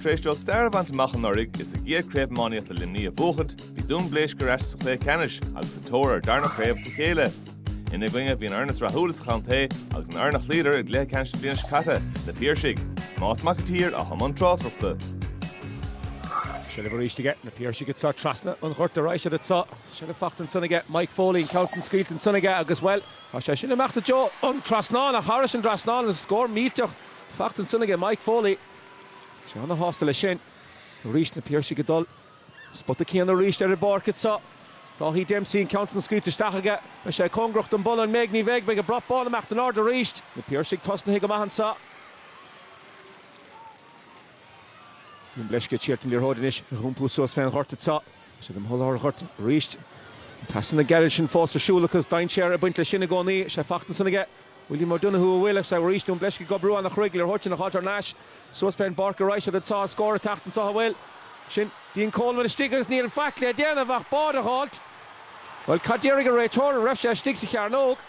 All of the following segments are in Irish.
Tar éis dóibh stair a bhaint amach anuraidh is a gcéad Chraobh Iománaíochta Luimnigh a bhuachaint, bhí Dún Bleisce ar ais sa chluiche ceannais agus sa tóir ar darna chraobh as a chéile. Ina gcoinne bhí an fhoireann is rathúla sa chontae agus an fhoireann a chloíodar i gcluiche ceannais na bliana seo caite, Na Piarsaigh. Tomás Mac an tSaoir atá i mbun tráchtaireachta. Seilbh arís ages na Piarsaigh anso trasna an ghoirt arís iad anso. Seilbh fachta ansan aige Mike Foley, an ceann san scaoilte ansan aige agus, bhuel, tá sé sin ag imeacht i dtreo an trasnáin, ach thairis an dtrasnán, an scór millteach. Fachta ansan aige Mike Foley. Bhí sé an-sásta leis sin. Arís na Piarsaigh ag dul an spota céanna arís ar an bpáirc iad seo. Dáithí Dempsey an ceann san scaoilte isteach aige. Beidh sé cóngarach don bpolla an mbeidh? Ní bheidh. Beidh an brat bán ag imeacht in airde arís. Na Piarsaigh tosnaithe go maith anseo. Dún Bleisce ag seoladh an liathróid anois ag iompú suas fén ghort iad seo. Tá siad amuigh i lár an ghoirt arís. Na pasanna gairid sin fós ar siúl acu is dainséar ag baint leis sin i gcónaí. Seilbh fachta ansin aige. William O'Donoghue ach bhuel arís Dún Bleisce ag brú ana-chruaidh, liathróid sin a dh'fháilt thar n-ais suas fén bpáirc arís agus tá an scór ag teacht anso an bhfuil? Sin Dean Coleman istigh agus níl faic le déanamh ach báide a dh'fháilt. Bhuel, cad déarfaidh a' réiteoir, an raibh sé istigh sa chearnóg?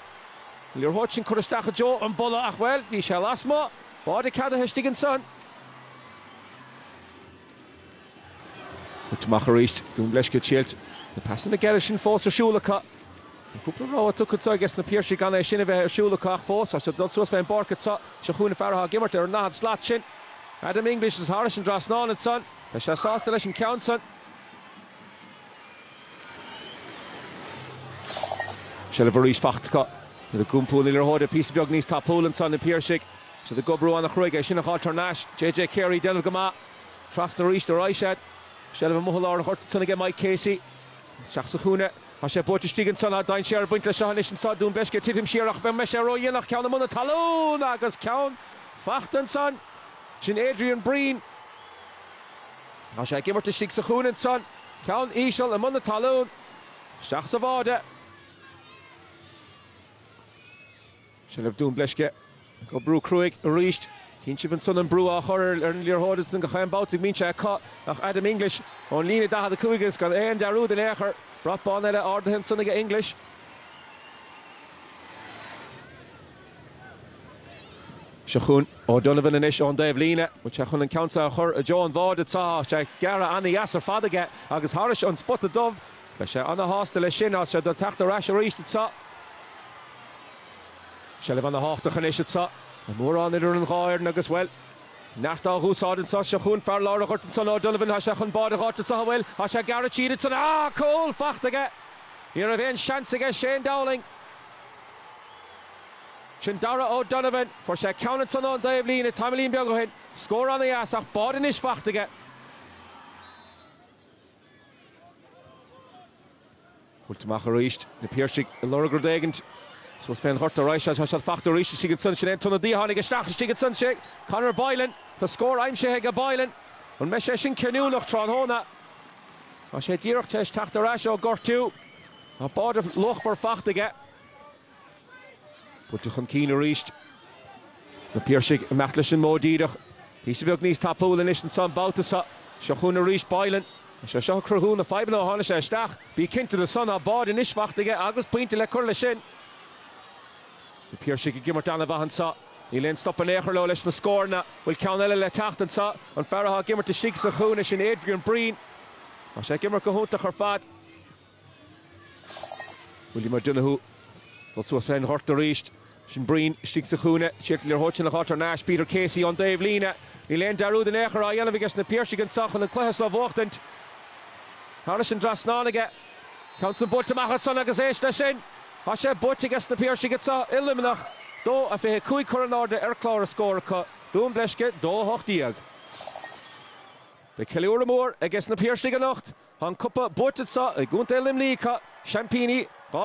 Bhuel, liathróid sin curtha isteach i dtreo an bpolla ach, bhuel, bhí sé lasmuigh. Báide ceadaithe istigh ansan. Thit amach arís. Dún Bleisce seilbh. Na pasanna gearra sin fós ar siúl acu. Tá cúpla rabhadh tugtha acu ages na Piarsaigh gan é sin a bheith ar siúl acu ach fós, tá siad ag dul suas fén bpáirc anseo. Seo chugainn an fear atá ag imirt ar an ndaichead slat sin. Adam English atá thairis an dtrasnán ansan. Beidh sé sásta leis an ceann san. Seilbh arís faighte acu. Iad ag iompú an liathróid píosa beag níos tapúla ansan, na Piarsaigh. Is iad ag oibriú an-chruaidh é sin a dh'fháilt thar n-ais. JJ Carey ag déanamh go maith. Trasna arís ar aghaidh siad. Seilbh amuigh i lár an ghoirt ansan aige Mike Casey. Isteach sa chúinne. Tá sé buailte istigh ansan. Tá dainséar ag baint leis seo anois anso. Dún Bleisce ag titim siar ach an mbeidh sé ró-dhéanach? Ceann amuigh na talún agus ceann fachta ansan. Sin Adrian Breen. Tá sé ag imirt istigh sa chúinne ansan. Ceann íseal amuigh na talún. Isteach sa bháide. Seilbh Dún Bleisce ag brú cruaidh arís. Chíonn sibh ansan an brú á chur ar an liathróid ansan gach aon babhta go mbíonn sé acu ach Adam English ón líne 45 agus gan aon dearúd in aon chor. Brat bán eile ardaithe ansan ag English. Seo chugainn O'Donovan anois ón dtaobh líne. Bhfuil sé chun an ceann seo a chur i dtreo an bháide? Tá sé gearrtha an-dheas ar fad aige agus thairis an spota dubh. Beidh sé ana-shásta leis sin, agus é ag teacht ar ais aríst anso. Seilbh ana-thábhachtach anois anso. Níl mórán idir an dhá fhoireann agus, bhuel. Neart dá dh'úsáid anso. Seo chúinn fear lár a' ghoirt anso in O'Donovan. Thá sé chun bád a dh'fháilt anso, ó bhuel. Thá sé gearrtha thar ansan. Á! Cúl! Fachta aige! Ní raibh aon seans aige Shane Dowling. Sin Darragh O'Donovan. Fuair sé ceann ansan ón dtaobh líne, tamaillín beag ó shin. Scór ana-dheas, ach bád anois fachta aige. Buailte amach arís, na Piarsaigh ag lorg rud éigint suas fén ghort ar ais. Tá sé fachta aríst istigh ansan. Sin é an t-ionadaí a tháinig isteach istigh ansan. 'Sé Conor Boylan. Tá scór aimsithe aige Boylan. An mbeidh sé sin cinniúnach tráthnóna? Tá sé díreach tar éis teacht ar ais ó ghortú. Tá bád luachmhar fachta aige. Buailte chun cinn arís. Na Piarsaigh ag imeacht leis an mbóthar díreach. Píosa beag níos tapúla anois anso an babhta seo. Seo chugainn arís Boylan. Is é seo ag cruthú na fadhbanna ó tháinig sé isteach. Bí cinnte de san tá bád anois faighte aige agus pointe le cur leis sin. Na Piarsaigh ag imirt ana-mhaith anso. Níl aon stop in aon chor leo leis na scóranna. Bhfuil ceann eile le teacht anseo? An fear atá ag imirt istigh sa chúinne sin Adrian Breen? Tá sé ag imirt go hiontach ar fad. William O'Donoghue ag dul suas fén ghort arís. Sin Breen istigh sa chúinne. Síleann sé an liathróid sin a chailliúint ar Nash, Peter Casey ón dtaobh líne. Níl aon dearúd in aon chor á dhéanamh aige sna Piarsaigh anso chun an cluiche seo a bhuachtaint. Thairis an dtrasnán aige. Ceann san buailte amach ansan agus éist leis sin! Thá sé buaite aige sna Piarsaigh anso i Luimneach, 2 a 25 curtha in airde ar chlár na scór acu, Dún Bleisce 2 18. Beidh ceiliúradh mór aige sna Piarsaigh anocht Tá an copa buaite acu i gContae Luimnigh, seaimpíní 2022.